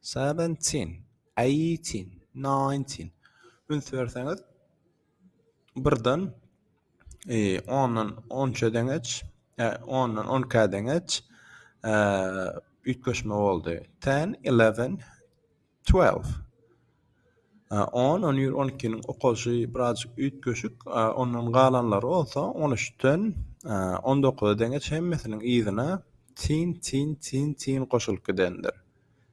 Seventeen, eighteen, nineteen üns berseňiz birden ondan onça deňeç, ondan onka deňeç üýtgeşme boldy. Ten, eleven, twelve. On, on bir, on ikiniň okalyşy birazjyk üýtgeşik, ondan galanlary bolsa on üçden on dokuza deňeç hemmesiniň yzyna tin, tin, tin, tin goşulyp gidendir.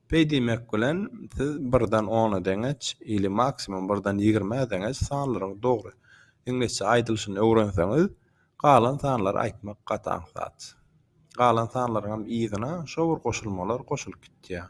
Beý diýmek bilen siz birden ona deňeç ili maksimum birden ýigrimä deňeç sanlaryň dogry iňlisçe aýdylyşyny öwrenseňiz, galan sanlary aýtmak gaty aňsat. Galan sanlaryňam yzyna şo bir goşulmalar goşulyp gitýär.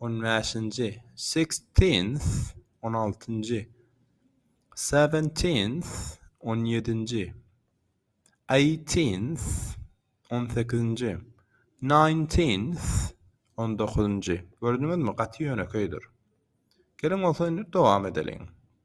On bäşinji, sixteenth, on altynjy. Seventeenth, on ýedinji. Eighteenth, on sekizinji. Nineteenth, on dokuzynjy. Gördüňizmi, gaty ýönekeýdir. Geliň bolsa indi dowam edeliň.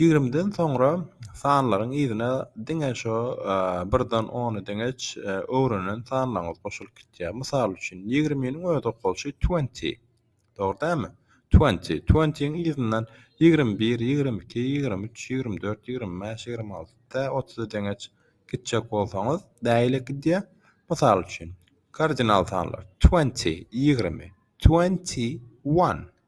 Ýigrimiden soňra sanlaryň yzyna diňe şo birden ony deňeç öwrenen sanlaryňyz goşulyp gitýär. Mysal üçin, ýigriminiň öz okalşy twenty. Dogry dälmi? Twenty. Twenty-niň yzyndan ýigrimi bir, ýigrimi iki, ýigrimi üç, ýigrimi dört, ýigrimi bäş, ýigrimi alty, tä otuza deňeç gitjek bolsaňyz, bäýle gidýär. Mysal üçin, kardinal sanlar, twenty, ýigrimi, twenty one.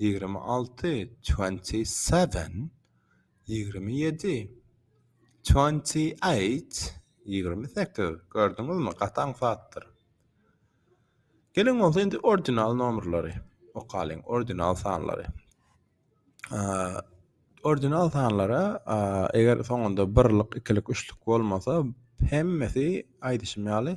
ýigrimi alty, twenty seven, ýigrimi ýedi, twenty eight, ýigrimi sekiz, gördüňizmi, gaty aňsatdyr. Geliň bolsa indi ordinal nomerleri okalyň, ordinal sanlary. Ordinal sanlara eger soňunda birlik, ikilik, üçlük bolmasa hemmesi aýdyşym ýaly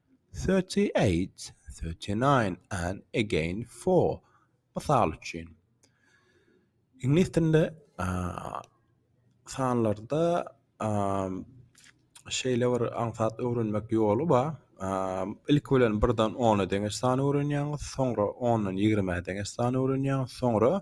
Thirty eight, thirty nine and again four. Mysal üçin, iňlis dilinde sanlarda şeýle bir aňsat öwrenmek ýoly bar. Ilki bilen birden ona deňeç sany öwrenýäňiz, soňra ondan ýigrimä deňeç sany öwrenýäňiz, soňra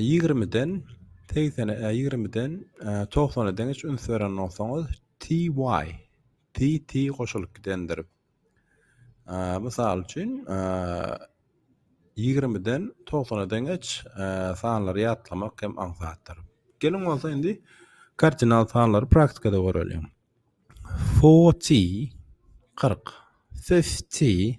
Ýigrimiden, segsene, ýigrimiden, togsana deň hiç üns beren bolsaňyz, TY, TT goşulyp gidendir. Mysal üçin, ýigrimiden togsana deňeç sanlary ýatlamak hem aňsatdyr. Geliň bolsa indi kardinal sanlary praktikada göreliň. Forty, kyrk, fifty,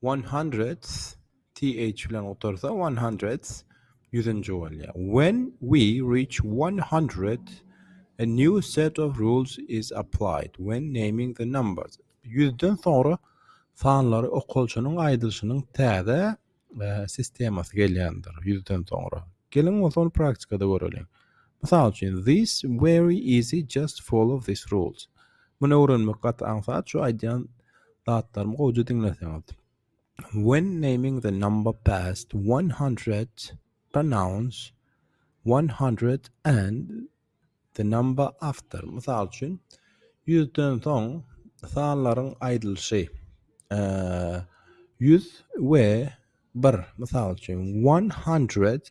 One hundreds, TH bilen gutarsa, one hundreds, ýüzünji bolýar. When we reach one hundred, a new set of rules is applied when naming the numbers. Ýüzden soňra sanlary okalyşynyň aýdylyşynyň täze sistemasy gelýändir, ýüzden soňra. Geliň bolsa ony praktikada göreliň. Mysal üçin, This very easy just follow this rules. Muny öwrenmek gaty aňsat şu aýdýan zatlarymy gowja diňleseňiz. When naming the number past one hundred pronounce one hundred and the number after. Mysal üçin, ýüzden soň sanlaryň aýdylyşy ýüz we bir. Mysal üçin, one hundred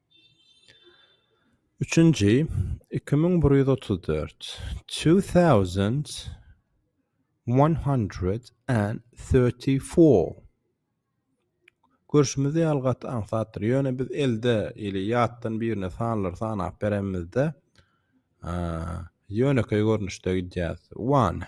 Üçünji, iki müň bir ýüz otuz dört, two thousand one hundred and thirty four, Görşümize ýaly gaty aňsatdyr, ýöne biz elde ili ýatdan birine sanlary sanap berenimizde ýönekeý görnüşde gidýäris. One.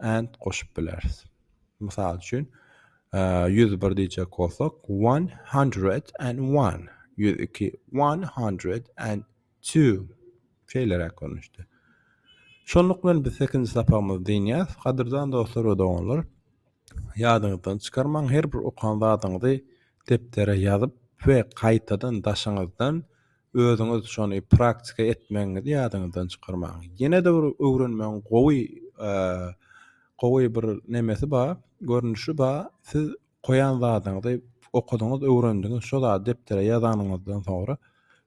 and goşup bileris. Mysal üçin, ýüz bir diýjek bolsak, one hundred and one, ýüz iki, one hundred and two. Şeýleräk görnüşde. Şonluk bilen biz sekinji sapagymyzy dynýas. Gadyrdan dostlar we doganlar, ýadyňyzdan çykarmaň, her bir okan zadyňyzy depdere ýazyp we gaýtadan daşyňyzdan Özüňiz şony praktika etmegiňizi ýadyňyzdan çykarmaň. Ýene-de bir öwrenmegiň gowy gowy bir nemesi bar, görnüşi bar. Siz goýan zadyňyzy okadyňyz, öwrendiňiz, şo zady depdere ýazanyňyzdan soňra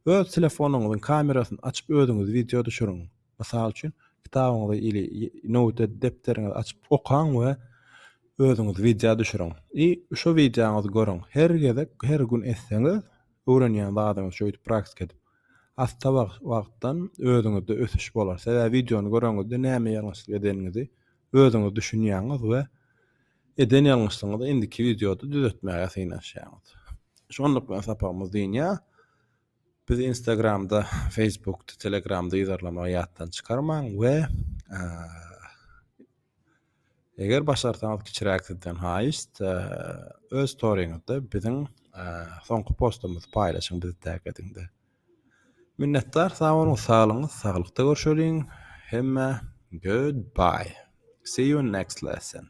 öz telefonyňyzyň kamerasyny açyp özüňiz wideo düşüriň. Mysal üçin, kitabyňyzy ili note depderiňizi açyp okaň we özüňiz wideo düşüriň. I şo wideoňyzy görüň. Her gezek, her gün etseňiz, Öwrenýän zadyňyzy şeýdip praktika edip asda wagtdan özüňizde ösüş bolar. Sebäbi wideony göreňizde näme ýalňyşlyk edeniňizi özüňiz düşünýäňiz we eden ýalňyşlygyňyzy indiki wideoda düzetmäge synanyşýaňyz. Şonluk bilen sapagymyz dynýar. Bizi Instagramda, Facebookda, Telegramda ýazarlamagy ýatdan çykarmaň we Eger başarsaňyz kiçiräk sizden haýyşt öz storyňyzda biziň soňky postumyzy paýlaşyň bizi tag ediňde. Minnetdar sag boluň saglygyňyz saglykda görşeliň hemmä good bye see you next lesson.